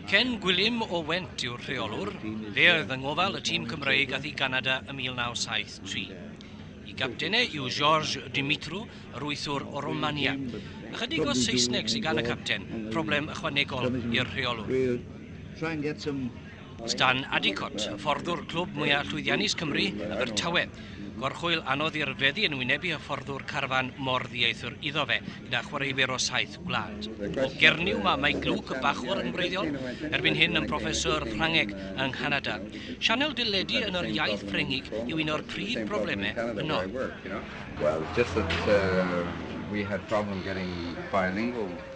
Ken Gwilym o Went yw'r rheolwr, fe oedd yng ngofal y tîm Cymreig ath i Ganada ym 1973. Y gaptenau yw Georges Dumitru, yr wythwr o Romania. Ychydig o Saesneg sy gan y capten, problem ychwanegol i'r rheolwr. Stan Addicott, hyfforddwr clwb mwyaf llwyddiannus Cymru, Abertawe. Gorchwyl anodd i'r feddi yn wynebu hyfforddwr carfan mor ddieithr iddo fe, gyda chwaraewyr o saith gwlad. O Gernyw mae Mike Luke, bachwr yn wreiddiol, erbyn hyn yn broffeswr Ffrangeg yng Nghanada. Sianel deledu yn yr iaith Ffrengig yw un o'r prif broblemau yno. Well, just that we had problem getting bilingual.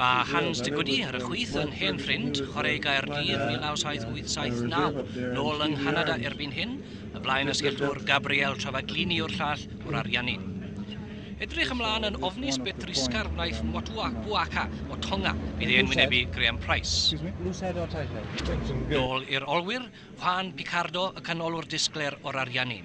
Mae Hans de Goede ar y chwith yn hen ffrind chwarae Gaerdydd 1988-89, nôl yng Nghanada erbyn hyn, y blaen asgellwr Gabriel Travaglini yw'r llall o'r Ariannin. Edrych ymlaen yn ofnus beth drysgar wnaeth Motua Buaka o Tonga, bydd e'n wynebu Graham Price. Nôl i'r olwyr, Juan Picardo y canolwr disglair o'r Ariannin.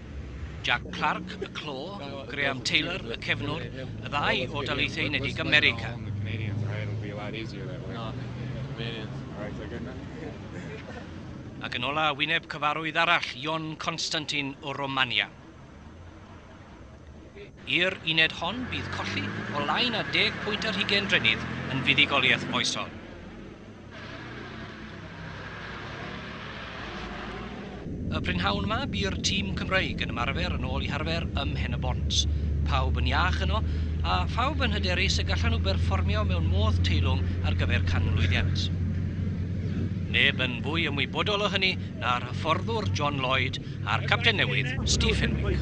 Jack Clark, y clo, Graham Taylor, y cefnwr, y ddau o Daleithiau Unedig America. Ac yn ola, wyneb cyfarwydd arall, Ion Constantin o Romania. I'r uned hon bydd colli o lai na deg pwynt ar hugain drennydd yn fuddugoliaeth foesol. Y prynhawn yma bu'r tîm Cymreig yn ymarfer yn ôl i harfer ym Mhen-y-bont. Pawb yn iach yno, a phawb yn hyderus y gallan nhw berfformio mewn modd teilwng ar gyfer canmlwyddiant. Neb yn fwy ymwybodol o hynny na'r hyfforddwr John Lloyd a'r capten newydd, Steve Fenwick.